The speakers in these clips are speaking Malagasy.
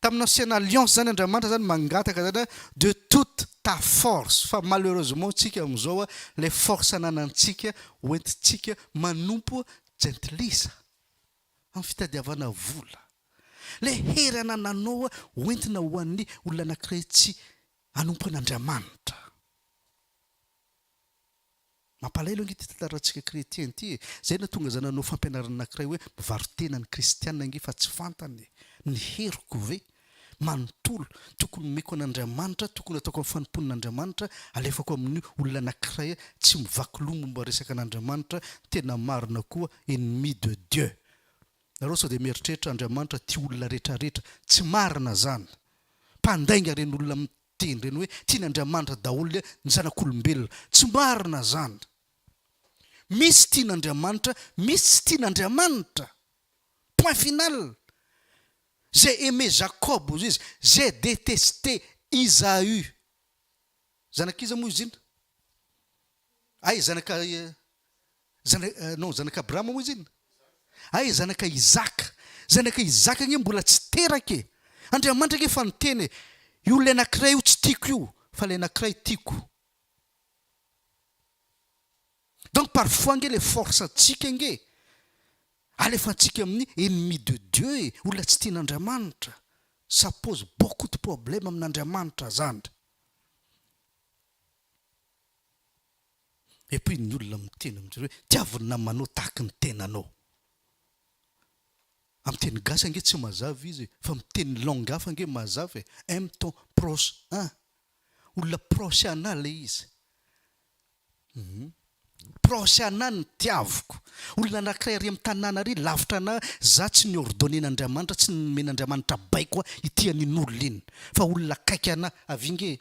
Tamin'ny ancienne alliance zany Andriamanitra zany mangataka zany hoe de toute ta force fa malheureusement tsika amin'izao ilay force ananantsika hoentintsika manompo jentilisa amin'ny fitadiavana vola. Ilay hery anananao hoentina ho an'ny olona anankiray tsy hanompo an'Andriamanitra. Mampalahelo ange ity tantarantsika chrétien ity e! Zay nahatonga za nanao fampianarana anakiray hoe mivarotena ny kristiana ange fa tsy fantany e! Ny heriko ve? Manontolo, tokony omeko an'Andriamanitra, tokony ataoko amin'ny fanompoan'Andriamanitra, alefako amin'ny olona anakiray tsy mivaky loha momba resaka an'Andriamanitra, tena marina koa ennemi de Dieu! Nareo sao dia mieritreritra Andriamanitra tia olona retraretra, tsy marina zany! Mpandainga reny olona Dia ireny hoe tian' Andriamanitra daholo le ny zanak' olombelona. Tsy marina zany. Misy tian' Andriamanitra, misy tsy tian' Andriamanitra. Point final. J'ai aimé Jacob hozy izy, j'ai detesté Isaü. Zanak'iza moa izy iny? Ay, zanaka, zana, non, zanaka Abrahama moa izy inona? Ay, zanaka Isaka. Zanaka Isaka anie mbola tsy teraka e! Andriamanitra anie efa niteny e! Io olona anakiray io tsy tiako io, fa ilay anakiray tiako. Donc parfois ange le force antsika ange alefantsika amin'ny ennemi de Dieu e, olona tsy tian'Andriamanitra. Ça pose beaucoup de problème amin'Andriamanitra zany. Et puis ny olona miteny amin-dry zareo hoe tiavo ny namanao tahaka ny tenanao. Amin'ny teny gasy ange tsy mazava izy e, fa miteny ny langue hafa ange mazava e, aime ton proche an! Olona proche anah ilay izy. Hum. Proche anah ny tiavoko. Olona anankiray ary amin'ny tanàna ary lavitra anah, za tsy ni-ordonner-n'Andriamanitra, tsy nomen'Andriamanitra baiko aho hitia an'iny olona iny, fa olona akaiky anah. Avia ange e!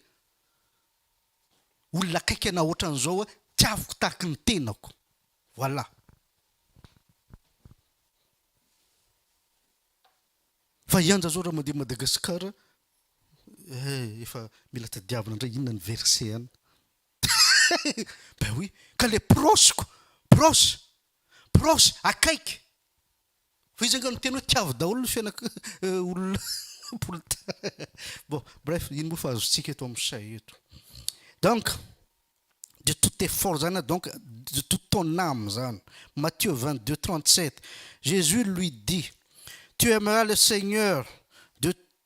olona akaiky anao ohatran'izao hoe tiaviko tahaky ny tenako. Voilà. Fa i Anja zao raha mandeha Madagascar eh efa mila tadiavina ndray inona ny verset an. Ben oui, ka le proche ko, proche, proche, akaiky. Fa izy anga niteny hoe tiavo daholo ny fiainak olona poltard. Bon, bref, ino moa fa azontsika eto am say eto. Donc, de tout effort zany a donc de toute ton âme zany. Matthieu vingt deux trente sept, Jesus lui dit, tu aimeras le Seigneur de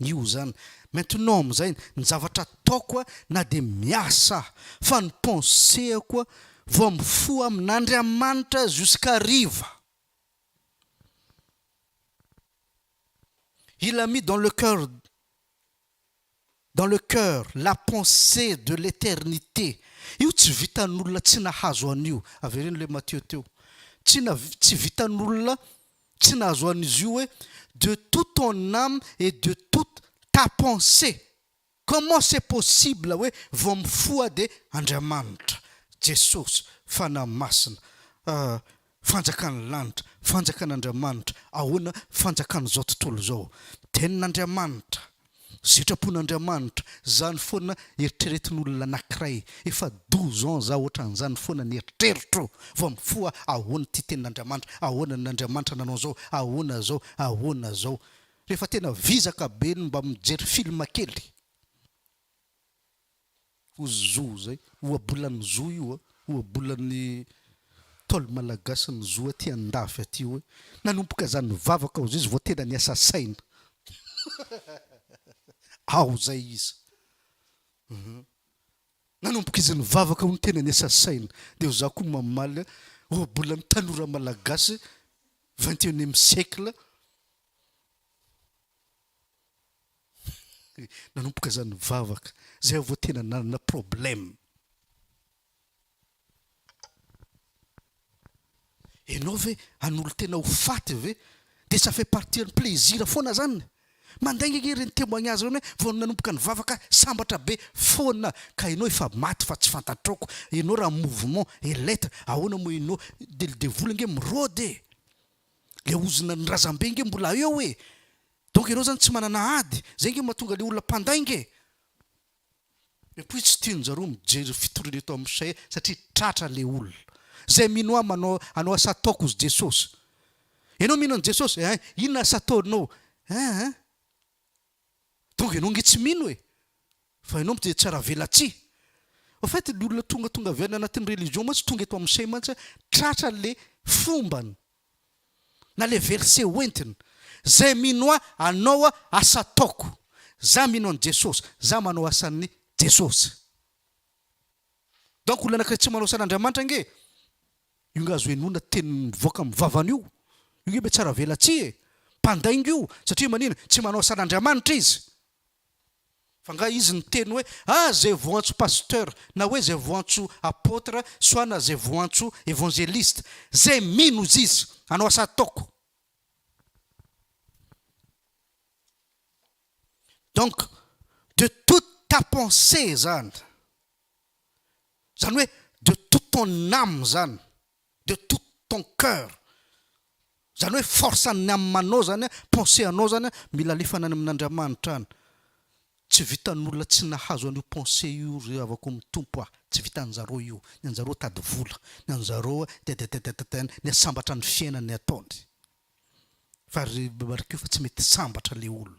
Io izany. Maintenant amin'izay, ny zavatra ataoko a, na dia miasa aho, fa ny pensée-ako a, vao mifoha amin'Andriamanitra jusqu'hariva. Il a mis dans le cœur, dans le cœur, la pensée de l'éternité. Io tsy vitan'olona tsy nahazo an'io. Avereno ilay Matthieu teo. Tsy na, tsy vitan'olona Tsy nahazoan'izy io hoe de toute ton âme et de toute ta pensée! Comment c'est possible hoe vao mifoha dia Andriamanitra, Jesosy, Fanahy Masina, ah, fanjakan'ny lanitra, fanjakan'Andriamanitra, ahoana, fanjakan'izao tontolo izao. Tenin'Andriamanitra. Sitrapon'Andriamanitra, zany foana eritreretin'olona anakiray, efa douze ans za otran'zany foana ny eritreritro vao mifoha ahoana ty tenin'Andriamanitra, ahoana ny Andriamanitra nanao zao, ahoana zao, ahoana zao. Refa tena vizaka be no mba mijery film kely. Ohazoa zay, ohabolan'ny zoa io a, ohabolan'ny Ntaolo malagasy ny zoa aty andafy aty hoe, nanomboka za nivavaka ao zay izy vao tena niasa saina. Ao zay izy. Hum. Nanomboka izy nivavaka ao no tena niasa saina. Dia za koa mamaly hoe, ohabolan'ny tanora malagasy vingt et unième siècle. Nanomboka izany nivavaka, izay aho vao tena nanana problème. Ianao ve hanolo-tena ho faty ve? Dia ça fait partie ny plaisir foana izany. Mandainga ange ireny témoignage ireny hoe vao nanomboka nivavaka sambatra be foana ka ianao efa maty fa tsy fantatrao ko. Ianao raha mouvement et l'etre ahoana moa ianao? Dia ny devoly ange mirôdy e! Ilay ozona ny razambe ange mbola eo e! Donc ianao zany tsy manana ady, zay nge mahatonga le olona mpandainga e! Et puis tsy tianjareo mijery fitoriana eto am chez satria tratra le olona. Zay mino ahy manao anao asa ataoko ozy Jesosy. Ianao mino an Jesosy eeh inona asa ataonao eeh. Donc ianao nge tsy mino e! Fa ianao mte tsara velatsihy. Au fait ny olona tonga tonga avy any anatin'ny religion mantsy tonga eto am chez mantsy an, tratra le fombany. Na le verset ho entiny, zay mino ahy anao asa ataoko, za mino an'i Jesosy, za manao asan'i Jesosy. Donc olona anakiray tsy manao asan'Andriamanitra ange io nga azo henoina teny mivoaka amin'ny vavany io, io nge mbe tsy aravelatsihy e, mpandainga io satria manina, tsy manao asan'Andriamanitra izy. Fa nga izy niteny hoe ah zay voantso pasteur na hoe zay voantso apotre soit na zay voantso evangeliste zay mino izy izy anao asa ataoko donc de toute ta pensee zany zany hoe de toute ton ame zany de tout ton coeur zany hoe force an'ny âme-nao zany a, pensée anao zany a, mila alefana any amin'Andriamanitra any. Tsy vitan'olona tsy nahazo an'io pensée io ry havako amin'ny Tompo a, tsy vitan'zareo io, ny an'zareo tady vola, ny an'zareo tadatatatatan, ny sambatra ny fiainany ataony, fa ry mariko fa tsy mety sambatra le olona.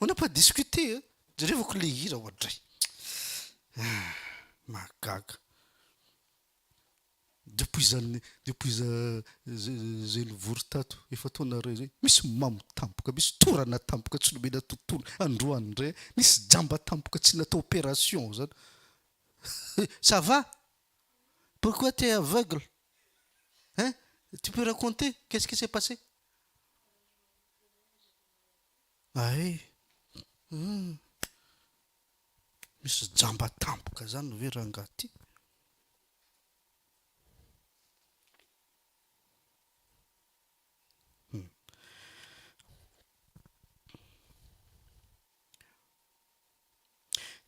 On n'a pas discuté hein! Jerevako le hira oadray! Ah! Mahagaga! Depuis za depuis za zay nivory tato efa taona iray zay, misy mamo tampoka, misy torana tampoka tsy nomena tontolo, androany ndray nisy jamba tampoka tsy natao opération zany! Ça va? Pourquoi tu es aveugle? Hein? Tu peux raconter qu'est-ce qui s'est passé? Hay hum misy jamba tampoka zany ve rangaha ty? Hum.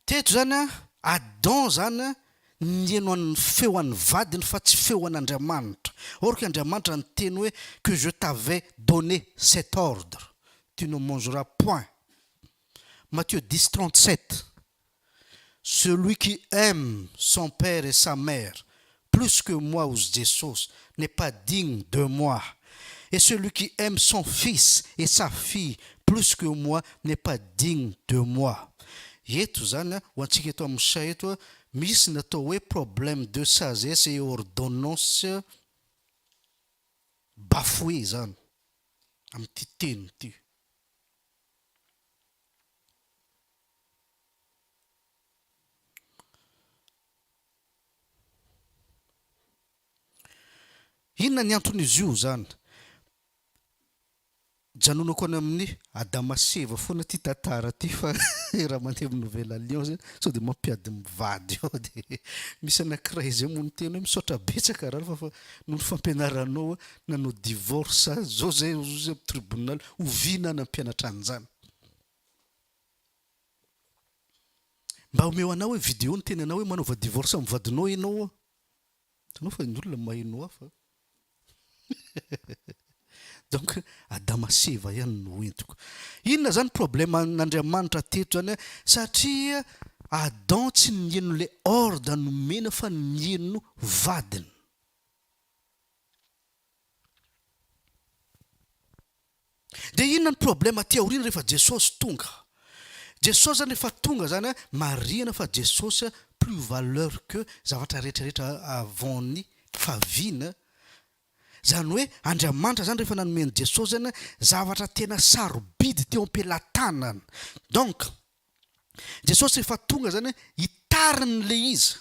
Teto izany an, Adam izany an, nihaino an' ny feo an' ny vadiny fa tsy feo an' Andriamanitra. Or que Andriamanitra niteny hoe, Que je t'avais donné cet ordre, Tu ne mangeras point. Matthieu dix, trente-sept, Celui qui aime son père et sa mère plus que moi ozy Jesosy n'est pas digne de moi et celui qui aime son fils et sa fille plus que moi n'est pas digne de moi eto zany a ho antsika eto amin'ny chat eto a misy ny atao hoe problème de sagesse et ordonnance bafouée izany amin'ity teny ity. Inona ny anton'izy io zany? Janonako any amin'ny Adama sy Eva foana ity tantara ity fa raha mandeha amin'ny Nouvel Alliance sao dia mampiady mivady ao dia misy anankiray izay moa niteny hoe misaotra betsaka Ralph fa noho ny fampianaranao aho nanao divorce aho zao zay ozy amin'ny tribunal oviana aho nampianatra an'izany? Mba omeo anah hoe video niteny anao hoe manaova divorce amin'ny vadinao enao oa. Hitanao fa ny olona mahay no hafa donc adama sy eva ihany no entiko. Inona zany problème an'Andriamanitra teto zany a, satria Adam tsy niheno le ordre nomena fa niheno vadiny. Dia inona ny problème aty aoriana rehefa Jesosy tonga? Jesosy zany rehefa tonga zany an, marihana fa Jesosy an plus valeur que zavatra rehetra rehetra avant ny fahaviany an, zany hoe Andriamanitra zany rehefa nanome an'i Jesosy zany an, zavatra tena sarobidy teo am-pelatanana. Donc, Jesosy rehefa tonga zany an, hitariny le izy.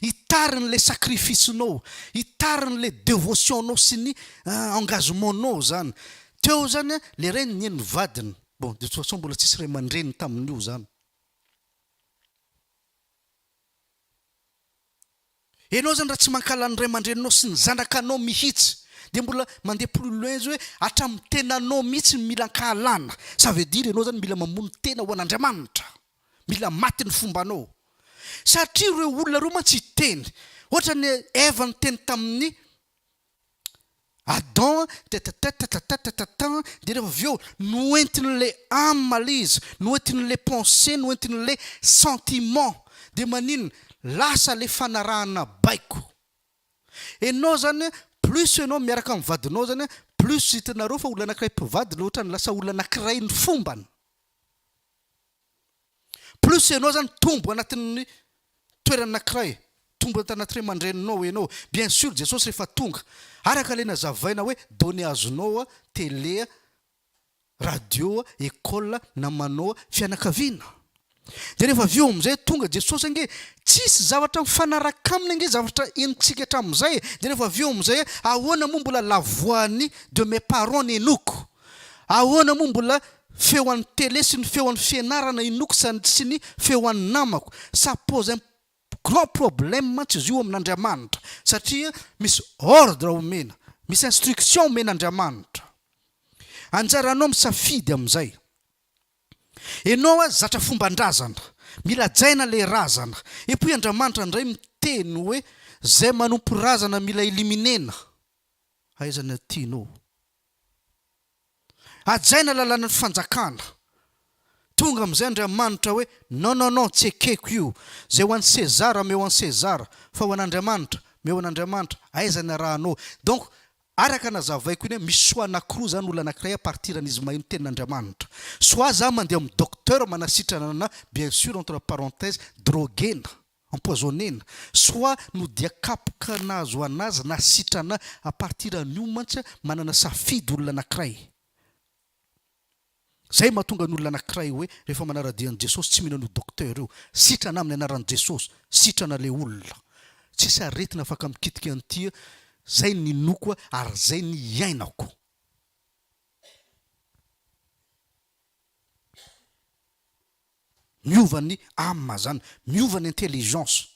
Hitariny le sacrifice nao, hitariny le devotion nao sy ny engagement nao zany, teo zany an le ray ninie ny vadiny, bon de toute façon mbola tsisy ray aman-dreny tamin'io zany, enao zany raha tsy mankahala ny ray aman-dreninao sy ny zanakanao mihitsy de mbola mandeha plus loin zao hoe hatramin'ny tenanao mihitsy no mila ankahalana, ça veut dire enao zany mila mamono tena ho an'Andriamanitra. Mila maty ny fombanao. Satria ireo olona ireo mantsy hiteny. Ohatra ny Eva niteny tamin'i Adam, tetetatatatatatatan, dia rehefa avy eo, noentin'ilay âme ilay izy, noentin'ilay pensée, noentin'ilay sentiment. Dia maninona? Lasa ilay fanarahana baiko. Ianao izany, plus ianao miaraka amin'ny vadinao izany, plus hitanareo fa olona anankiray mpivady ilay ohatran'ny lasa olona anankiray ny fombany. Plus ianao zany tombo anatin'ny toerana anakiray, tombo anaty anaty ray aman-dreninao ianao, bien sur Jesosy rehefa tonga, araka ilay nazavaina hoe données azonao a, télé a, radio a, école a, namanao a, fianakaviana. Dia rehefa avy eo amin'izay tonga Jesosy ange, tsisy zavatra mifanaraka aminy ange zavatra henontsika hatramin'izay e, dia rehefa avy eo amin'izay ahoana moa mbola la voix-ny de mes parents nenoko, ahoana moa mbola Feo an'ny télé sy ny feo an'ny fianarana inoako sady sy ny feo an'ny namako. Ça pose un grand problème mantsy izy io amin'Andriamanitra satria misy ordre omena, misy instruction omen'Andriamanitra. Anjaranao misafidy amin'izay. Ianao aza zatra fomban-drazana, mila hajaina ilay razana. Et puis Andriamanitra indray miteny hoe izay manompo razana mila éliminer-na. Aiza no tianao? Hajaina lalàna ny fanjakana. Tonga amin'izay Andriamanitra hoe, Non, non, non, tsy ekeko io. Izay ho an'i Sezara, ameo an'i Sezara. Fa ho an'Andriamanitra, meo an'Andriamanitra. Aiza ny arahanao? Donc, araka nazavaiko iny, misy soa anankiroa izany, olona anankiray à partir an'izy maheno tenin'Andriamanitra. Soit za mandeha amin'ny docteur manasitrana anà, bien sûr, entre parenthèses, droguena. empoisonner-na, soit no dia kapoka nahazoana azy na sitrana, à partir an'io mantsy manana safidy olona anakiray. Zay mahatonga ny olona anakiray hoe rehefa manara-dia an'i Jesosy tsy mino an'io docteur io, sitrana amin'ny anaran'i Jesosy, sitrana le olona. Tsisy aretina afaka mikitika an'ity, zay ny ninoako ary zay ny iainako. Miova ny âme zany, miova ny intelligence.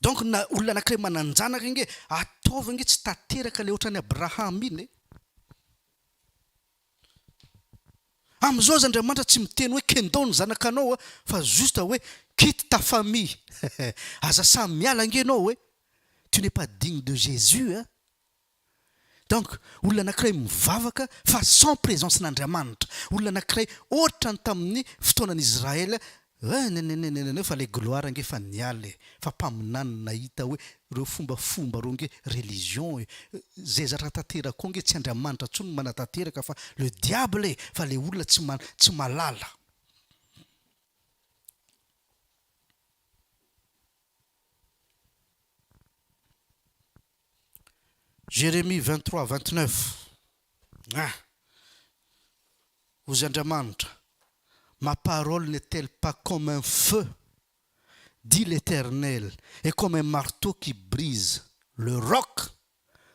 Donc na olona anakiray manan-janaka ange ataovy ange tsy tanteraka le ohatran'i Abraham iny e! Amzao aza Andriamanitra tsy miteny hoe kendao ny zanakanao a! fa juste hoe quitte ta famille aza samy miala ange enao e! tu n'es pas digne de Jesus a! Donc, olona anakiray mivavaka fa sans presence n'Andriamanitra, olona anakiray otrany tamin'ny fotoanan' Israël, eh neneneneneneneo fa le gloire ange fa niala e, fa mpaminany nahita hoe reo fombafomba reo nge religion e, zay zatra tanteraka ao nge tsy Andriamanitra tsony no manatanteraka fa le diable e, fa le olona tsy ma tsy malala. Jérémie 23, 29, Ah! Hozy Andriamanitra, Ma parole n'est-elle pas comme un feu? dit l'Éternel, et comme un marteau qui brise le roc?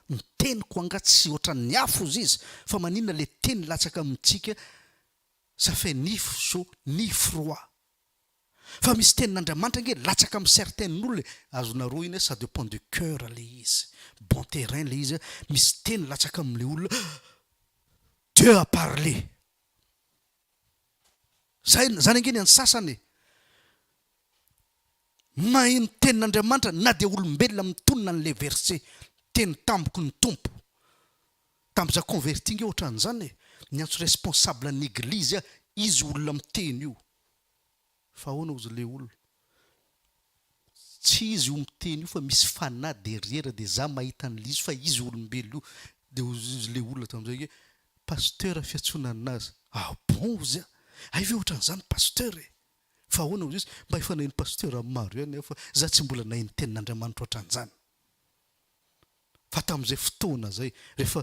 Ny teniko angaha tsy ohatran'ny afo hozy izy, fa maninona le teny latsaka amintsika, ça fait ni fso ni froid? Fa misy tenin'Andriamanitra ange latsaka am certains nolo e, azona rohina e, ça depend du cœur le izy, bon terrain le izy, misy teny latsaka am le olona Dieu a parlé! Zay zany ange ny an'ny sasany e, maheno tenin'Andriamanitra na dia olombelona mitonona anle verset teny tamiko ny Tompo tam za converti nge otran'zany e, niantso responsable an'eglizy ah izy olona miteny io, Fa ahoana ozy le ol. Tsy izy io miteny io fa misy fanahy derrière de za mahita anle izy fa izy olombelo io de ozy le olona tamzay oe pasteur fiatsonanina azy ah bon ozy a! Hay ve otranzany pasteur e! Fa ahoana ozy izy mba efa naheno pasteur maro ihany aho fa za tsy mbola naheno tenin'Andriamanitra otranzany fa tamzay fotoana zay refa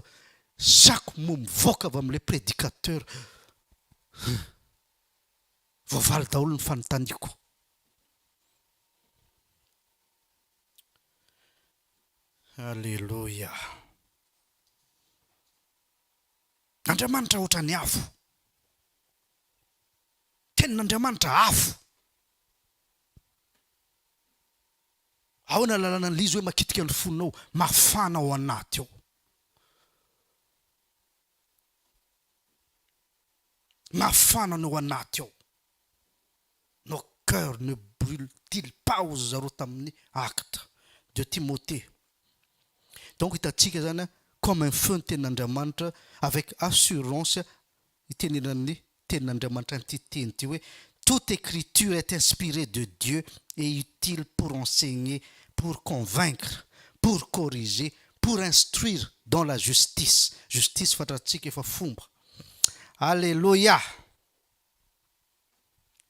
sako moa mivoaka avy amle predicateur Voavaly daholo ny fanontaniako. Aleloia. Andriamanitra ohatran'ny afo. Tenin'Andriamanitra afo. Ahoana lalana an'ilay izy hoe makitika ny fonao, mafana ao anaty ao. mafana ny ao anaty ao. Nos cœurs ne brulent-ils pas hozy ry zareo tamin'ny Actes de Timothée. Donc hitantsika izany comme un feu ny tenin'Andriamanitra avec assurance itenenan'ny tenin'Andriamanitra an'ity teny ity hoe toute écriture est inspirée de Dieu et utile pour enseigner, pour convaincre, pour corriger, pour instruire dans la justice. Justice fantatsika efa fomba. Aleloia!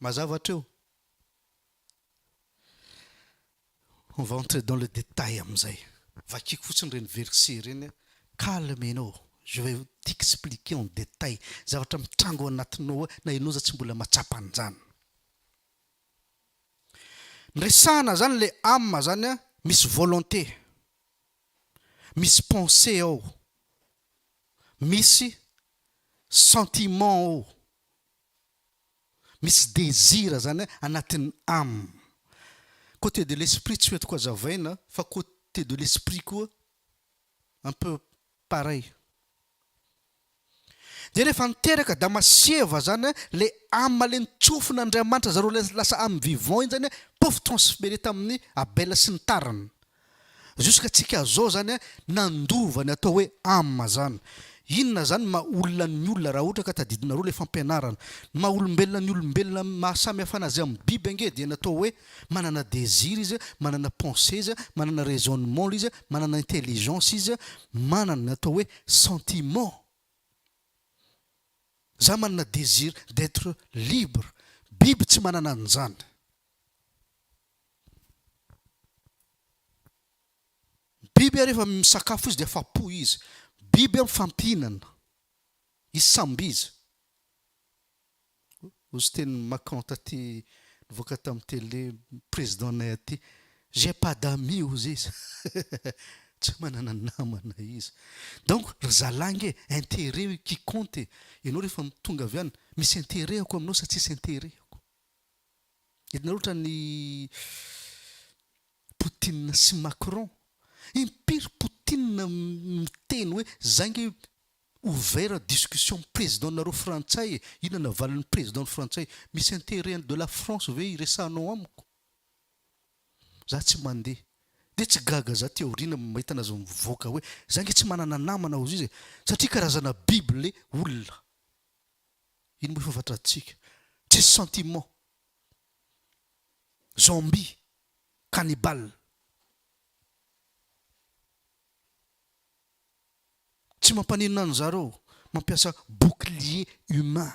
Mazava hatreo? On va entrer dans le détail amin'izay. Vakiko fotsiny ireny versets ireny. Calmez-nous, je vais t'expliquer en détail zavatra mitrango ao anatinao ao na ianao aza tsy mbola mahatsapa an'izany. Ny resahana izany ilay âme izany an, misy volonté. Misy pensée ao, misy sentiment ao, misy désir, zany hoe anatin'ny âme. Côté de l'esprit tsy ho entiko hazavaina fa côté de l'esprit koa un peu pareil. Dia rehefa niteraka Damasieva zany a, le Ama le nitsofina Andriamanitra zareo le lasa Amy vivant iny zany a, pouf transfere tamin'ny Abela sy ny tariny. Jusqu'à tsika zao zany a, nandova ny atao hoe Ama zany. Inona zany ny maha olona ny olona raha ohatra ka tadidinareo le fampianarana. Ny maha olombelona ny olombelona maha samy hafa anazy amy biby ange dia ny atao hoe Manana désir izy, manana pensée izy, manana raisonnement izy, manana intelligence izy, manana ny atao hoe sentiment. Za manana désir d'être libre. Biby tsy manana an'izany. Biby ary efa misakafo izy dia afa-po izy. Biby mifampihinana. Isamby izy. Ozy teny Macon taty nivoaka tam tele président nay aty j'ai pas d'amis ozy izy tsy manana namana izy donc ry zalah nge interet qui compte e ianao rehefa tonga avy any misy interet ako aminao sa tsisy interet ako itanareo otrany Poutine sy Macron impiry Poutine miteny hoe zay nge Ouvert discussion ny président nareo frantsay e, inona navalin'ny président ny frantsay, misy interet de la France ve iresahanao amiko? Za tsy mandeha de tsy gaga za aty aoriana mahita anazy mivoaka hoe za nge tsy manana namana ozizy e, satria karazana biby le olona, ino moa ifafantratsika, tsisy sentiment, zombie, cannibale. Tsy mampaninona anzareo mampiasa bouclier humain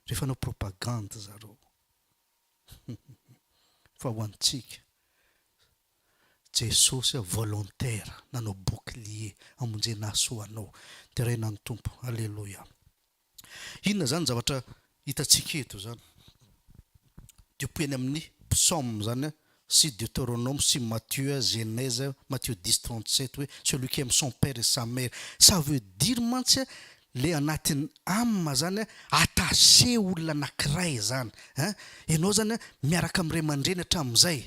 rehefa hanao propagande zareo fa ho antsika Jesosy aho volontaire nanao bouclier hamonjena ahy soa anao deraina ny Tompo Alléluia. Inona izany zavatra hitantsika eto izany? Dia hopoy any amin'ny psaumes izany an, sy Deuteronome sy Matthieu, Genèse, Matthieu dix trente sept hoe celui qui aime son père et sa mère. Ça veut dire mantsy an, ilay anatin'ny âme izany an, attaché olona anankiray izany. An, ianao izany an, miaraka amin'ny ray aman-dreny hatramin'izay.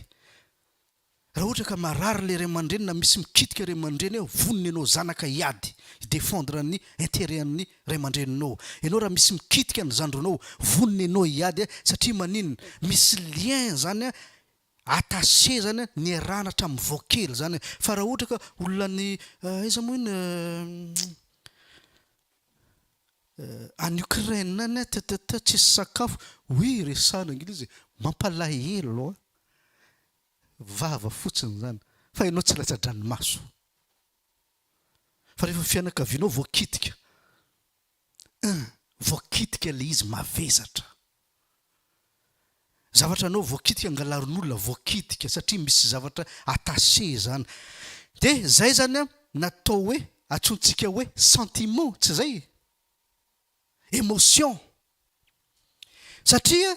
Raha ohatra ka marary ilay ray aman-dreny na misy mikitika ray aman-dreny eo, vonona ianao zanaka hiady, hi-defendre ny interet an'ny ray aman-dreninao. Ianao raha misy mikitika ny zandrinao, vonona ianao hiady satria maninona? Misy lien zany attaché zany niarahana hatramin'ny vao kely zany. Fa raha ohatra ka olona any aiza moa iny? any Ukraine any a tatatat tsisy sakafo oui resahana anglisy e! mampalahelo a! vava fotsiny izany fa ianao tsy latsa-dranomaso fa rehefa fianakavianao voakitika un voakitika ilay izy mavesatra. Zavatra anao voakitika angalarin'olona voakitika satria misy zavatra attaché zany de zay zany an natao hoe atsointsika hoe sentiment tsy zay? Emotion satria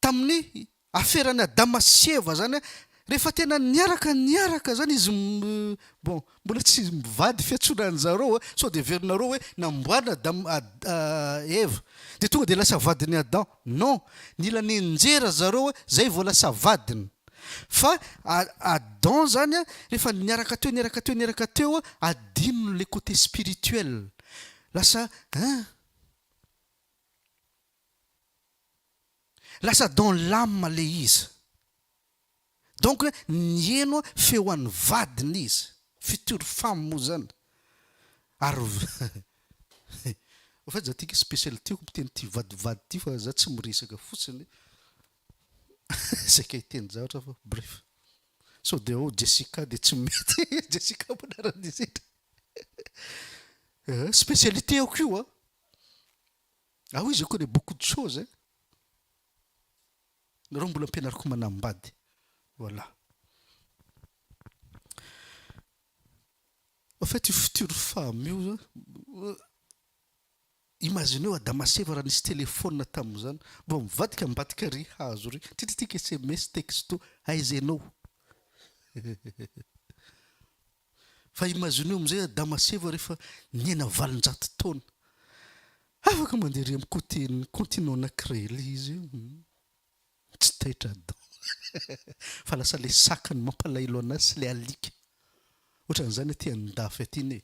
tamin'ny Aferan'i Adama sy Eva zany a, rehefa tena niaraka niaraka zany izy bon mbola tsy mivady fiantsoana anjareo a, sao dia heverinareo hoe namboarina Adama Ad Eva dia tonga dia lasa vadin'i Adam, non, nila nenjera zareo a zay vao lasa vadiny, fa Adam zany a rehefa niaraka teo niaraka teo niaraka teo a adinony le côté spirituel lasa hein. Lasa dans l'âme le izy. Donc niheno feo an'i vadiny izy, future femme moa zany. Ary au fait za ty special tiako miteny ty vadivady ty fa za tsy miresaka fotsiny saika hiteny zavatra fa bref. Sao dia ao Jessica dia tsy mety, Jessica moa anaran'izy ity. Specialitéako io an. Ah oui je connais beaucoup de choses hein. Nareo mbola ampianariko manambady. Voilà. En fait io future femme io imagineo Adama sy Eva raha nisy telephone tamin'izany vao mivadika ambadika ry hazo ry tititika sms texto aiza ianao. Fa imagineo amin'izay Adama sy Eva rehefa niaina valonjato taona. Afaka mandeha ery amin'ny côté ny continent anankiray ilay izy io. Tsy taitra Adam. Fa lasa ilay saka no mampalahelo anazy sy ilay alika. Ohatran'izany aty an-dafy aty anie.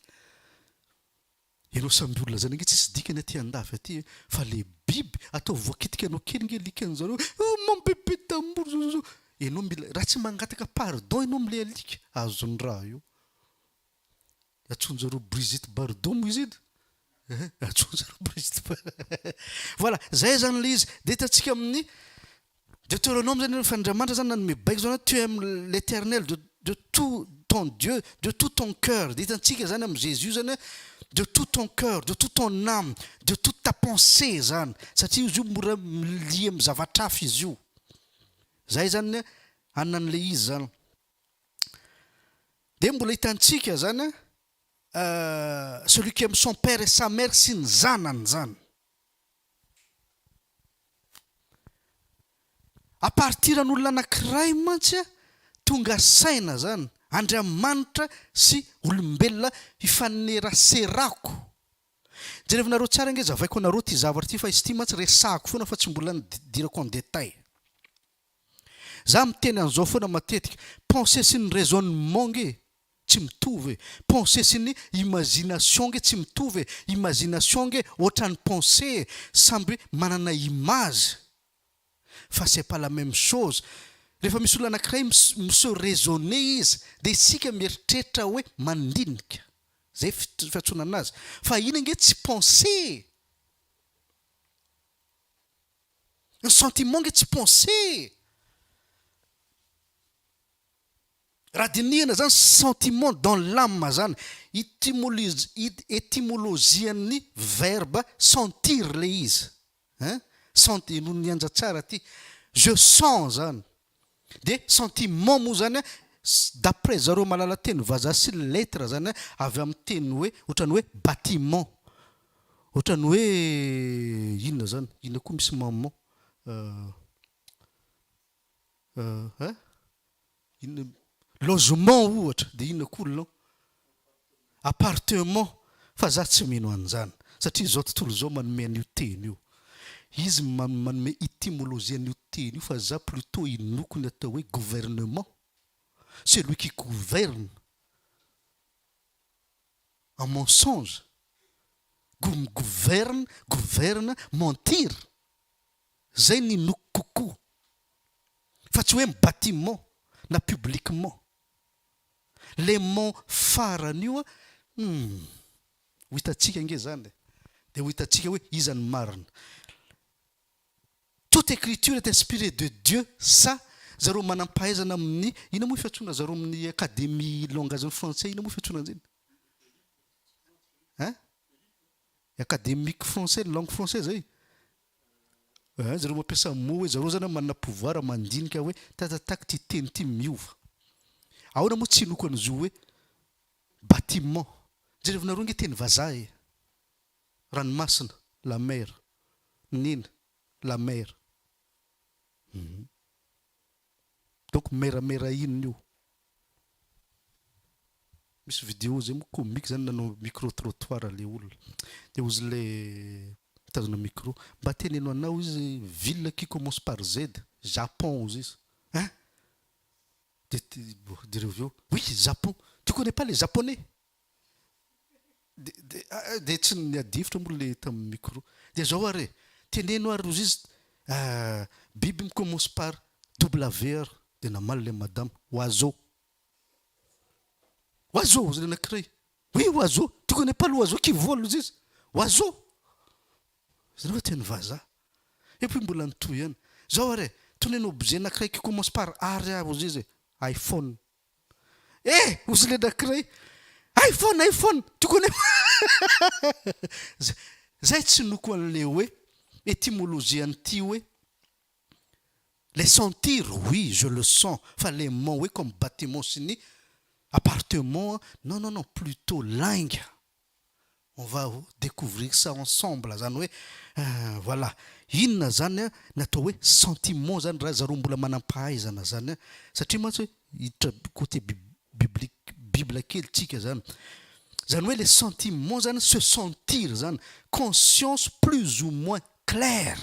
Ireo samby olona zany ange tsisy dikany aty andafy aty e fa le biby ataovy voakitika anao kely nge likany zareo e oh mon bebe d'amour zouzou enao mila raha tsy mangataka pardon enao amle alika azony raha io atsoinjareo Brigitte bardot mo izy edy eh atsoinjareo Brigitte bardot voilà zay zany le izy de hitantsika amin'ny Deuteronome zany efa Andriamanitra zany nanome baiko zany hoe tu aimes l'Eternel de de tout ton Dieu de tout ton coeur de hitantsika zany am Jésus zany hoe de tout ton coeur de tout ton âme de toute ta pensée zany satria izy io mora milia am zavatra hafa izy io zay zany anona anle izy zany de mbola hitantsika zany celui qui aime son père et sa mère sy ny zanany zany. A partir ny olona anakiray mantsy a tonga saina zany Andriamanitra sy olombelona hifaneraserako jerevinareo tsara ange zavaiko anareo ty zavatra ty fa izy ty mantsy resahiko foana fa tsy mbola nidirako en detail za miteny anzao foana matetika pensee sy ny raisonnement nge tsy mitovy e! Pensée sy ny imagination nge tsy mitovy e! Imagination nge ohatran'ny pensée e! Samby manana image fa c'est pas la même chose! Rehefa misy olona anankiray mi se raisonner izy dia isika mieritreritra hoe mandinika! Izay fiantsoana anazy! Fa iny ange tsy pensée e! Ny sentiment nge tsy pensée e! Raha dinihana zany sentiment dans l'âme zany, etymologian'ny verbe sentir le izy hein, sent eno ny anja tsara ty, je sens zany, de sentiment moa zany d'après zareo mahalala teny vazaha sy lettre zany avy amin'ny teny hoe ohatran'ny hoe batiment, ohatran'ny hoe inona zany, inona koa misy maman, Ahh ahh inona moa? Logement ohatra dia inona koa non? Appartement fa za tsy mino an'izany satria izao tontolo izao manome an'io teny io izy manome etymologie an'io teny io fa za plutot inoako ny atao hoe gouvernement celui qui gouverne en mensonge go migoverna governa mentir Zay ny inoako kokoa fa tsy hoe ny bâtiment na publiquement. Le mont farany io an, humm. Ho hitantsika ange zany e. Dia ho hitantsika hoe iza no marina. Toute écriture est inspirée de Dieu sa zareo manam-pahaizana amin'ny, ina moa fiantsoana zareo amin'ny académie langage français ina moa fiantsoana an'zay? Hein? Académique français ny langue français zay? Hein zareo mampiasa mot hoe zareo zany manana pouvoir mandinika hoe tatatak ty teny ty miova. Ahoana moa tsy hinoko an'izio hoe bâtiment. Jerevinareo nge teny vazaha e! Ranomasina, la mer. Neny, la mer. Hum. Donc meramera inona io? Misy vidéo zay moa comique zany nanao micro trottoir le olona de ozy le mitazona micro mba teneno anao izy ville qui commence par Z Japon ozy izy hein de de reo avy eo oui Japon tu connais pas les japonais Dia dia dia tsy niadihevitra moa ilay tamin'ny micro. Dia izao ary e, teneno ary rozy izy, biby mi commence par W ary. Dia namaly ilay madama, oiseau. Oiseau! hozy ilay anankiray. Oui oiseau, tu connais pas l'oiseau qui vole hozy izy. Oiseau! Izy ireo teny vazaha. Et puis mbola nitohy ihany. Izao ary e, toneno objet anankiray qui commence par ary aho hozy izy e, iPhone. Eh! hozy ilay anankiray, iPhone, iPhone, tiako anefa. Zay tsy noko an'ilay hoe etymologie an'ity hoe le sentir oui je le sens fa le mon hoe comme bâtiment sy ny appartement non non non plutot lainga On va decouvrir ça ensemble zany hoe voilà inona zany ny atao hoe sentiment zany raha zareo mbola manam-pahaizana zany satria mantsy hoe hiditra côté biblique bible kely tsika zany zany hoe le sentiment zany se sentir zany conscience plus ou moins claire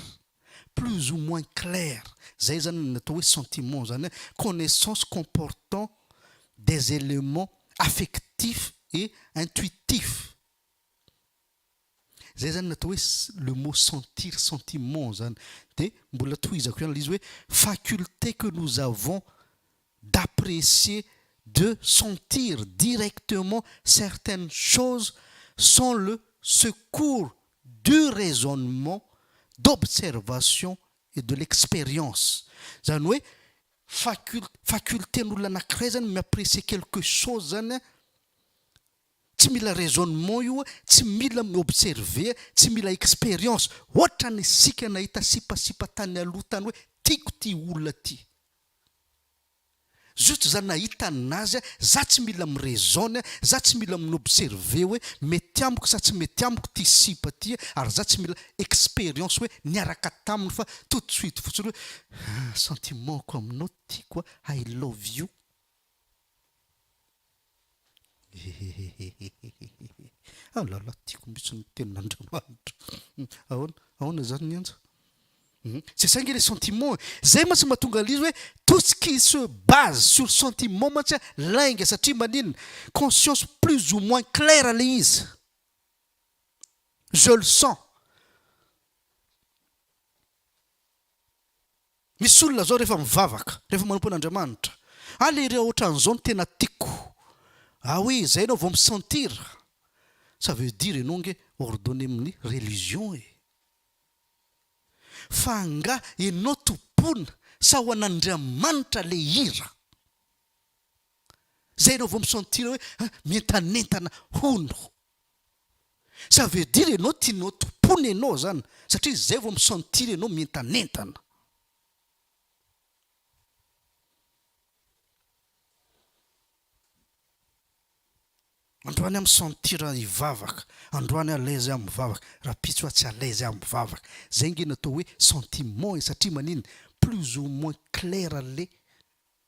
plus ou moins claire zay zany ny atao hoe sentiment zany hoe connaissance comportant des éléments affectifs et intuitifs zay zany ny atao hoe le mot sentir sentiment zany de mbola tohizako ihany le izy hoe faculté que nous avons d'apprécier, de sentir directement certaines choses sans le secours du raisonnement, d'observation et de l'expérience. Izany hoe faculte, faculté-n'olona anankiray izany mi-apprécier quelque chose izany an, tsy mila raisonnement io, tsy mila mi-observer, tsy mila expérience. Hoatran'isika nahita sipasipa tany aloha tany hoe tiako ity olona ity. Zut za nahita an'azy a, za tsy mila mi raisonne a, za tsy mila mi observer hoe mety amiko sa tsy mety amiko ty sipa ty a, ary za tsy mila experience hoe niaraka taminy fa tout de suite fotsiny hoe ah sentiment-ko aminao tiako a, I love you. Hehehehehehehehehe. Ah là là, tiako mihitsy ny tenin'Andriamanitra. Ahoana, ahoana izany ny anja? Hum, c'est ça ange le sentiment e. Izay mantsy no mahatonga an'ilay izy hoe tout ce qui se base sur le sentiment mantsy lainga satria maninona? Conscience plus ou moins claire ilay izy. Je le sens. Misy olona zao rehefa mivavaka, rehefa manompo an'Andriamanitra, ah le ireo otran'izao no tena tiako, ah oui zay enao vao mi sentir, ça veut dire enao nge ordonne amin'ny religion e! fa angah enao tompoina sa ho an'Andriamanitra le hira? zay enao vao mi sentir hoe ah mientanentana hono. Ça veut dire enao tianao tompoina enao zany satria zay vao mi sentir enao mientanentana. Androany aho mi sentir hivavaka, androany aho alaizy aho mivavaka, rapitso aho tsy alaizy aho mivavaka. Zay nge no atao hoe sentiment e satria maninn plus ou moins clair le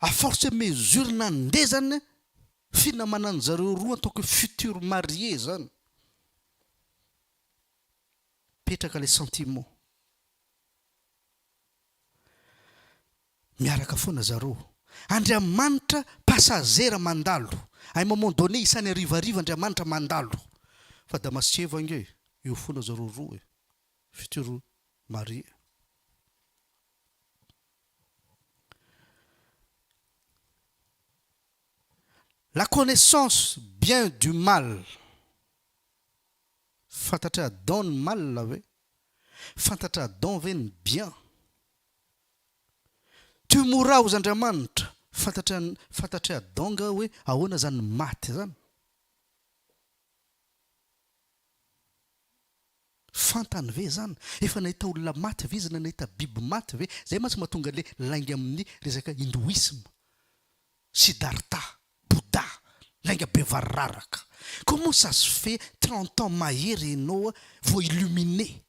à force et mesure nandeha zany finamanan zareo roa en tant que futur marie zany mipetraka le sentiment miaraka foana zareo Andriamanitra passagera mandalo à un moment donné isany arivariva Andriamanitra mandalo fa Damasceva nge eo foana zareo roa e futur marie. La connaissance bien du mal, fantatr' Adam ny mal ve? Fantatr' Adam ve ny bien? Tu mourras hozy Andriamanitra, fantatr' fantatr' i Adam nga hoe ahoana zany ny maty zany? Fantany ve izany? Efa nahita olona maty ve izy na nahita biby maty ve? Izay mantsy mahatonga ilay lainga amin'ny resaka hindoisma, Siddhartha, Bouddha, lainga be variraraka. Comment ça se fait trente ans mahery ianao vao illuminé?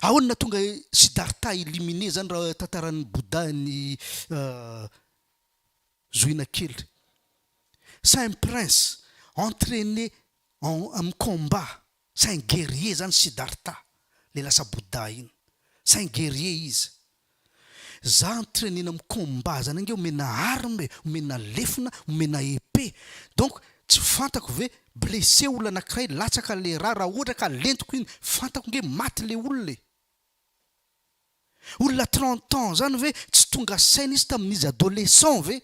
Ahoana no nahatonga Siddhartha illuminé izany raha tantaran'ny Bouddha ny zohina kely? Saint prince, entraîné en am combat c'est un guerrier zany Siddhartha le lasa Bouddha iny c'est un guerrier izy za entrainena am combat zany ange omena arme e, omena lefona, omena épée donc tsy fantako ve blessé olona anakiray latsaka le ra ra ohatra ka lentiko iny fantako ange maty le olona e! olona trente ans zany ve tsy tonga saina izy tamin'izy adolescent ve?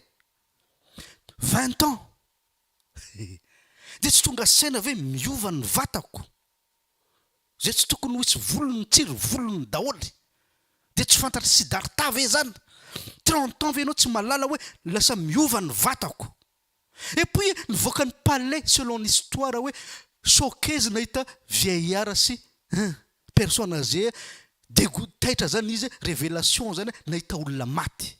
vingt ans Dia tsy tonga saina ve miova ny vatako? Izay tsy tokony ho hisy volony mitsiry volony daholo. Dia tsy fantatr'i Siddhartha ve izany? Trente ans ve ianao tsy mahalala hoe lasa miova ny vatako? Et puis nivoaka ny palais selon ny histoire hoe choquezy nahita vieillard sy hein personne agee, dego taitra izany izy, revelation izany nahita olona maty.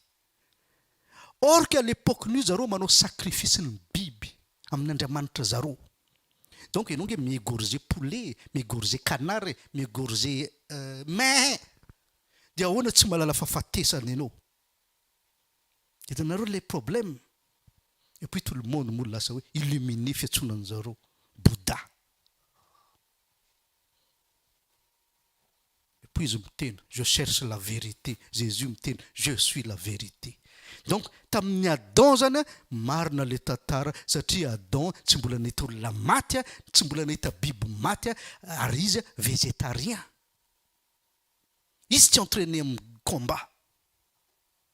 Or que à l'epoque nio zareo manao sacrifice ny biby amin Andriamanitra zareo donc enao nge mi-egorger poulet, mi-egorger canard, mi-egorger mais de ahoana tsy mahalala fahafatesana enao? Hitanareo le problème? Et puis tout le monde moa lasa hoe illuminé fiantsoana anzareo Bouddha. Poizy miteny je cherche la vérité, Jésus miteny je suis la vérité. Donc tamin'ny Adam zany a, marina le tantara satria Adam tsy mbola nahita olona maty a, tsy mbola nahita biby maty a, ary izy a végétarien. Izy tsy entraîner amin'ny combat.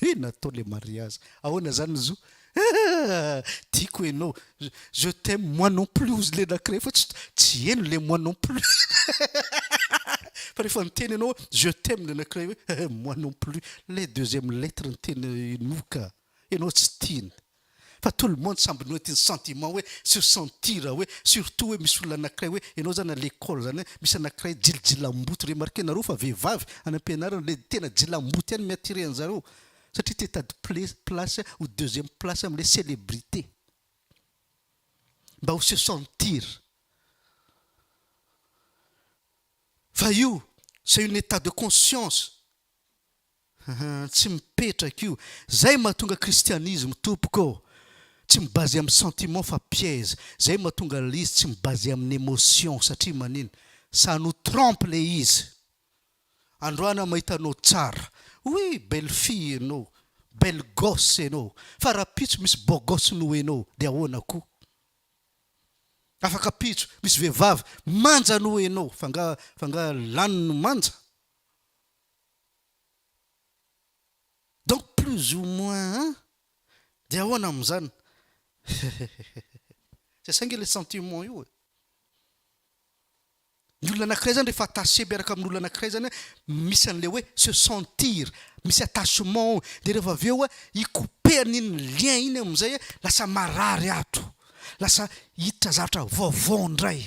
He natao le mariazy ahoana zany zo ah tiako enao je t'aime moi non plus hozy le nakiray fa tsy tsy heno le moi non plus fa rehefa niteny enao hoe je t'aime le nakiray hoe eh moi non plus le deuxième lettre ny teny inoa ka enao tsy tiany Fa tout le monde samby noety ny sentiment hoe sur sentir hoe surtout hoe misy olona anakiray hoe ianao zany à l'école zany hoe misy anakiray jilijilambouty remarquer-nareo fa vehivavy any am-pianarana le tena jilambouty ihany mi-attirer anzareo satria te hitady place ou deuxième place amin'ilay célébrité mba ho se sentir fa io c'est une état de conscience Hum tsy mipetraka io. Zay mahatonga christianisme tompoko ô! Tsy mi baser amin'ny sentiment fa piège. Zay mahatonga ilay izy tsy mi baser amin'ny emotion satria manina? Ça nous trompe ilay izy. Androany aho mahita anao tsara. Oui belle fille ianao, belle gosse ianao. Fa rahampitso misy beau gosse noho ianao dia ahoana koa? Afaka pitso misy vehivavy manja noho ianao fa nga fa nga lany ny manja? Donc plus ou moins an! Dia ahoana amin'izany? Hehehehe! Saingy ilay sentiment io e! Ny olona anankiray izany rehefa attaché miaraka amin'olona anankiray izany an, misy an'ilay hoe se sentir, misy attachement ao, dia rehefa avy eo i couper-ny iny lien iny amin'izay an, lasa marary ato, lasa hiditra zavatra vaovao indray,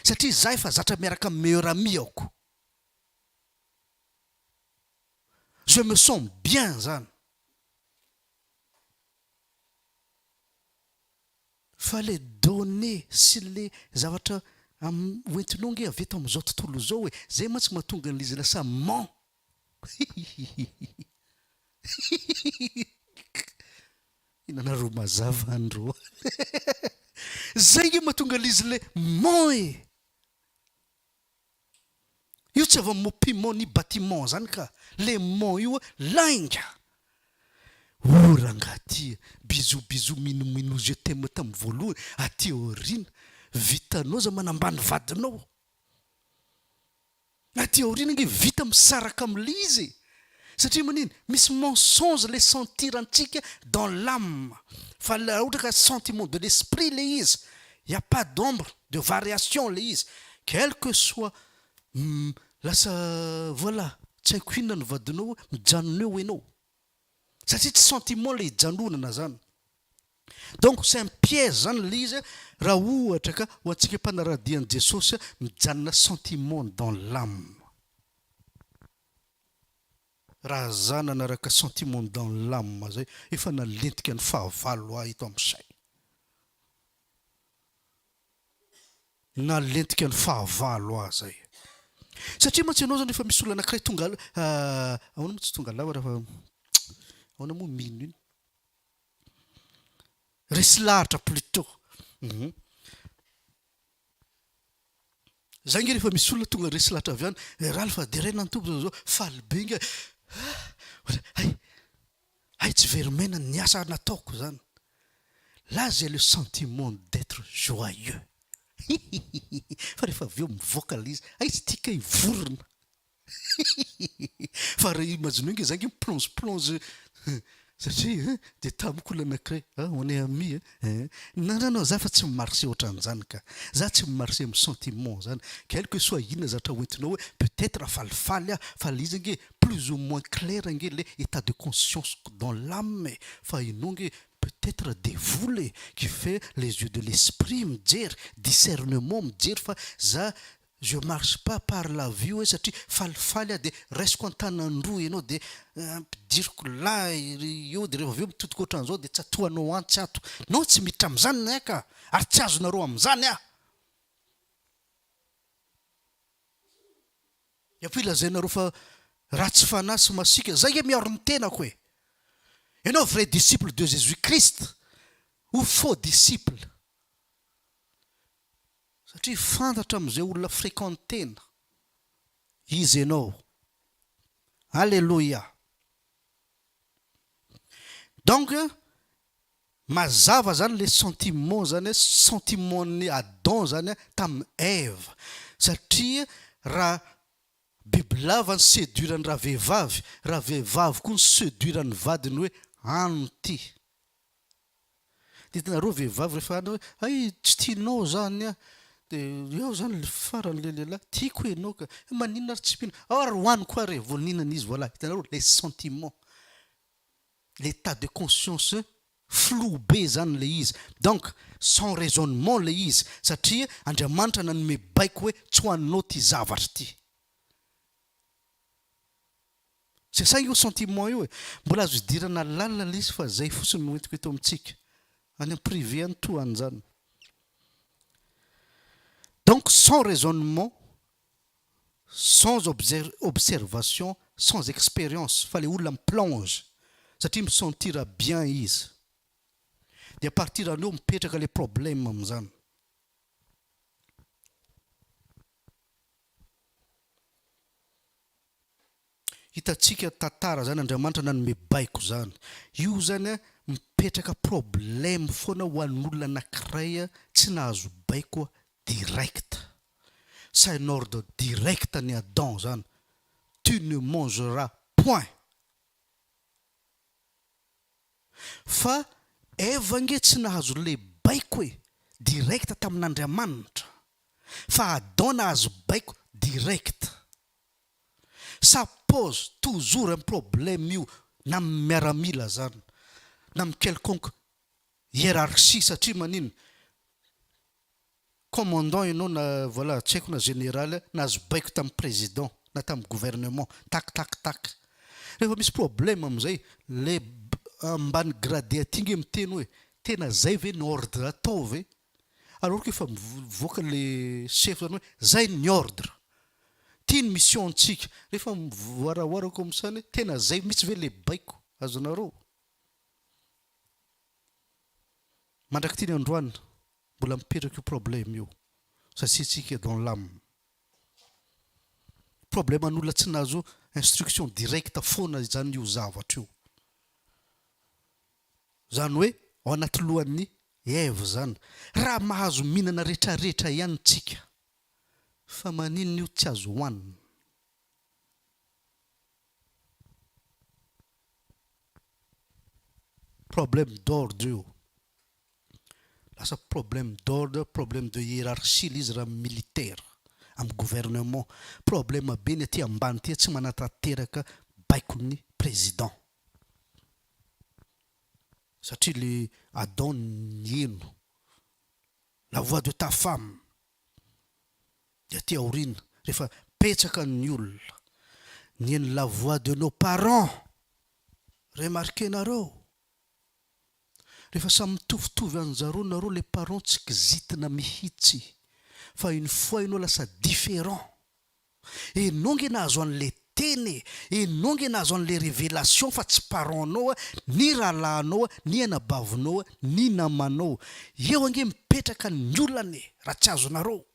satria izaho efa zatra miaraka amin'ny meilleur ami-ako. Je me sens bien zany. Fa le donne sy le zavatra hoentinao nge avy eto amin'izao tontolo izao e, zay mantsy mahatonga an'izy lasa ment. Hihihihihihi. Inona ro mazava andro a. Zay nge mahatonga an'izy le ment e. Io tsy avy amin'ny piment ni bâtiment izany ka! Le mont io lainga! Oh rangaha ty e! Bisous bisous minou minou je t'aime tamin'ny voalohany aty aoriana vitanao za manambany vadinao! Aty aoriana ange vita misaraka amin'ilay izy e! Satria maninn misy mensonge le sentir antsika dans l'ame fa raha ohatra ka sentiment de l'esprit le izy il ya pas d'ombre de variation le izy quel que soit lasa voilà tsy haiko inona ny vadinao hoe mijanona eo enao satria tsy sentiment le ijanonana zany donc c'est un piège zany le izy raha ohatra ka ho antsika mpanaradia an'i Jesosy mijanona sentiment dans l'ame. Raha za nanaraka sentiment dans l'âme zay efa nalentika ny fahavalo ahy eto am saina. Nalentika ny fahavalo ahy zay. Satria mantsy ianao zany rehefa misy olona anakiray tonga ahoana moa tsy tonga lava raha fa ahoana moa mino iny? Resy lahatra plutot. Zay nge rehefa misy olona tonga resy lahatra avy any, eh Ralph a, deraina ny Tompo zao zao, faly be nge, ah, ohatra, hay, hay tsy very maina ny asa nataoko zany, là j'ai le sentiment d'etre joyeux, hihihihi, fa rehefa avy eo mivoaka le izy, hay tsy tika hivorona. Fa raha imagineo nge za nge mi-plonge plonge satria hein dia tamiko olona anakiray ah on est amis hein non non non za efa tsy mi-marche otran'izany ka! za tsy mi-marche amin'ny sentiment zany ka hainiko hoe soit inona zavatra hoentinao hoe peut etre falifaly aho fa le izy ange plus ou moins clair ange le etat de conscience-ko dans l'ame e! fa ianao nge peut etre devoly e! qui fait les yeux de l'esprit mijery discernement mijery fa za Je marche pas par la vue hoe satria falifaly aho dia raisiko an-tanany roa ianao dia ampidiriko lahy eo dia rehefa avy eo mitodika ohatran'izao dia tsatohanao antsy ato. Non tsy miditra amin'izany ny ahy ka! Ary tsy azonareo amin'izany aho! Dia koa ilazainareo fa ratsy fanahy sy masiaka, izay nge miaro ny tenako e! Ianao vrai disciple de Jesus Christ ou faux disciple? satria fantatra amin'izay olona fréquentena izy ianao Alléluia donc mazava zany le sentiment zany hoe sentiment ny Adam zany tamin'i Eva satria raha bibilava ny séduire ny ravehivavy, ravehivavy koa ny séduire ny vadiny hoe ano ty. Tadidinareo vehivavy rehefa any hoe hay tsy tianao zany an! dia eo zany le farany le lehilahy tiako enao ka! he maninona ary tsy mino aho ary hoany koa ary e! vao nihinana izy voilà hitanareo le sentiment l'état de conscience flou be zany le izy donc sans raisonnement le izy satria Andriamanitra nanome baiko hoe tsy hoaninao ty zavatra ty! Tsy asaina io sentiment io e! Mbola azo idirana lalina ilay izy fa zay fotsiny no entiko eto amintsika. Any am privé any toa an'izany. Donc sans raisonnement, sans observation, sans expérience fa ilay olona mi-plonge satria mi-sentir bien izy. Dia à partir an'io mipetraka ilay problème amin'izany. Hitantsika tantara zany Andriamanitra nanome baiko zany. Io zany a mipetraka problème foana ho an'olona anakiray tsy nahazo baiko direct. Ça un ordre direct an'i Adam zany, tu ne mangeras point. Fa Eva ange tsy nahazo le baiko e, direct tamin'Andriamanitra. Fa Adam nahazo baiko direct. Ça pose toujours un problème io na amin'ny miaramila azany na amin'ny quelconque hiérarchie satria maninn commandant ianao na voilà tsy haiko na général nahazo baiko tamin'ny président na tamin'ny gouvernement tac tac tac rehefa misy problème amin'izay le ambany gradé aty nge miteny hoe tena zay ve ny ordre atao ve alors que efa mivoaka le chef zany hoe zay ny ordre ty ny mission antsika rehefa mivoaraoara comme ça ny tena zay mitsy ve le baiko azonareo. Mandrak'ity ny androany mbola mipetraka io problème io izay tsy hitsika dans l'âme. Problèmen'olona tsy nahazo instruction directe foana izany io zavatra io. Izany hoe ao anaty lohan'ny Eve izany. Raha mahazo mihinana retraretra ihany tsika fa maninona io tsy azo hohanina. Problème d'ordre io. Lasa problème d'ordre, problème de hiérarchie ilay izy raha amin'ny militaire, amin'ny gouvernement. Problème be ny aty ambany aty tsy manatanteraka baikon'ny président. Satria ilay Adon niheno, la voix de ta femme, Dia aty aoriana rehefa betsaka ny olona nihaino la voix de nos parents, remarquer-nareo? Rehefa samy mitovitovy anjareo nareo le parents tsy kizitina mihitsy fa une fois ianao lasa différent. Enao nge nahazo anle teny e! Enao nge nahazo anle revelation fa tsy parent nao a, ny rahalahinao a, ny anabavinao a, ny namanao. Eo ange mipetraka ny olana e! Raha tsy azonareo.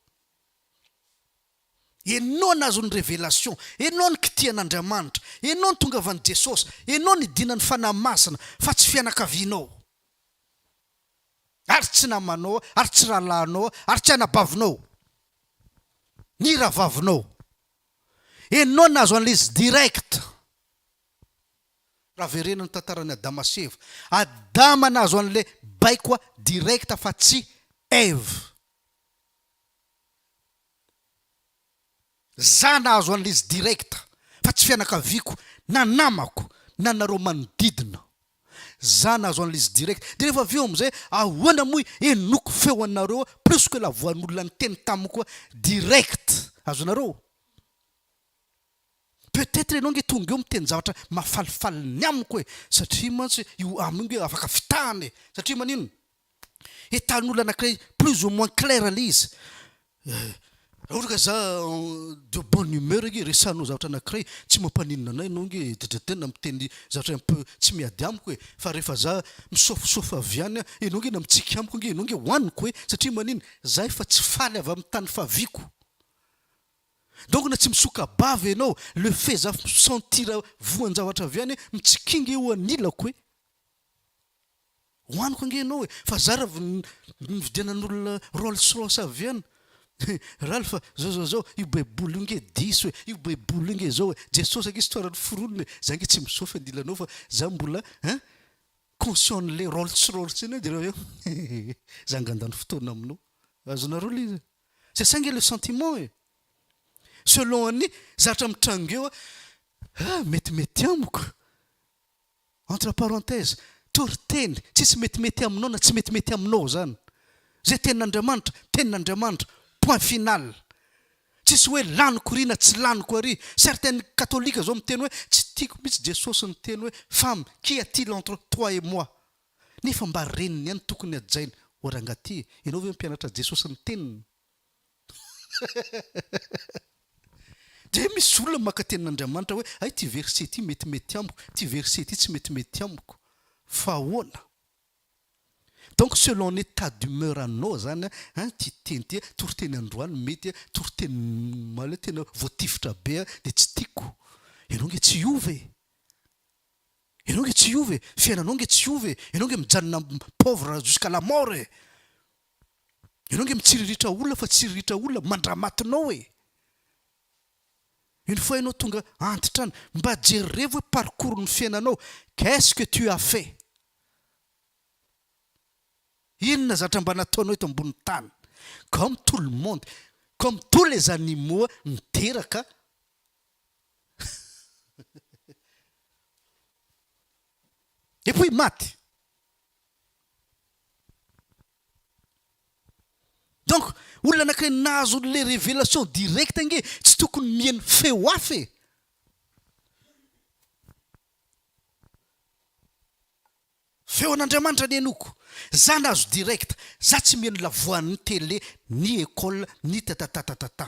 Enao nahazo ny revelation, enao nikitia an'Andriamanitra, enao nitongavan'i Jesosy, enao nidina ny Fanahy Masina fa tsy fianakavianao. ary tsy namanao, ary tsy rahalahinao, ary tsy anabavinao, ny rahavavinao. Enao nahazo an'ilay izy direct. Raha verenao ny tantaran'i Adama sy Eva, Adama nahazo an'ilay baiko direct fa tsy Eva. Za nahazo an'izy direct fa tsy fianakaviako na namako na nareo manodidina. Za nahazo an'izy direct de rehefa avy eo amizay ahoana moa henoko feo anareo plus que la voix n'olona niteny tamiko hoe direct azonareo? Peut etre enao nge tonga eo miteny zavatra mahafalifaly ny amiko e satria mantsy io amo io nge afaka fitahana e satria manino? Entanin'olona anankiray plus ou moins clair ilay izy. Raha ohatra ka za de bonne humeur ange resahinao zavatra anankiray tsy mampaninona anay ianao ange dredredena miteny zavatra un peu tsy miady amiko e, fa rehefa za misaofosaofy avy any ianao ange na mitsiky amiko ange ianao ange hohaniko e, satria manina za efa tsy faly avy amin'ny tany faviako. Donc na tsy misoka-bava ianao, le fait za mi-sentir voan-javatra avy any, mitsikia ange eo anilako e. Ho aniko ange ianao e! Fa za raha nividianan'olona rolls royce avy any e! Ralph a! Zao zao zao, io baiboly io ange diso e! Io baiboly io ange zao e! Jesosy ange istoaran'ny foronina e! Za ange tsy misaofy andilanao fa za mbola hein! Conscient an'le rolls royce iny dereo avy eo hehehe! Za nga handany fotoana aminao! Azonareo le izy? C'est ça ange le sentiment e! Selon an'ny zavatra mitranga eo a! Mety mety amiko! Entre parenthèses, toriteny, tsisy metimety aminao na tsy metimety aminao zany. Zay tenin'Andriamanitra, tenin'Andriamanitra, point final. Tsisy hoe laniko ry na tsy laniko ary. Certes ny katolika zao miteny hoe tsy tiako mitsy Jesosy niteny hoe femme, qui a-t-il entre toi et moi? Nefa mba reniny ihany tokony hajainy, o rangah ty, ianao ve mpianatra Jesosy niteniny? Dia misy olona maka tenin' Andriamanitra hoe, hay ity verset ity metimety amiko, ity verset ity tsy metimety amiko. Fa ahoana? Donc selon ny etat d'humeur anao izany an, ity teny ity, toriteny androany mety, toriteny omaly tena voatifitra be dia tsy tiako. Ianao ange tsy hiova e! Ianao ange tsy hiova e! Fiainanao ange tsy hiova e! Ianao ange mijanona pauvre jusqu'à la mort e! Ianao nge mitsiriritra olona fa tsiriritra olona mandramatinao e! Une fois ianao tonga antitra any, mba jerevo hoe parcours ny fiainanao, qu'est-ce que tu as fait? Inona zatra mba nataonao eto ambony tany? Comme tout le monde, comme tous les animaux niteraka et puis maty! Donc olona anakiray nahazo anle revelation direct ange tsy tokony mieno feo hafa e! Feo an'Andriamanitra ny henoko, za nahazo direct, za tsy mieno la voix ny tele, ny ecole, ny tatatatatata.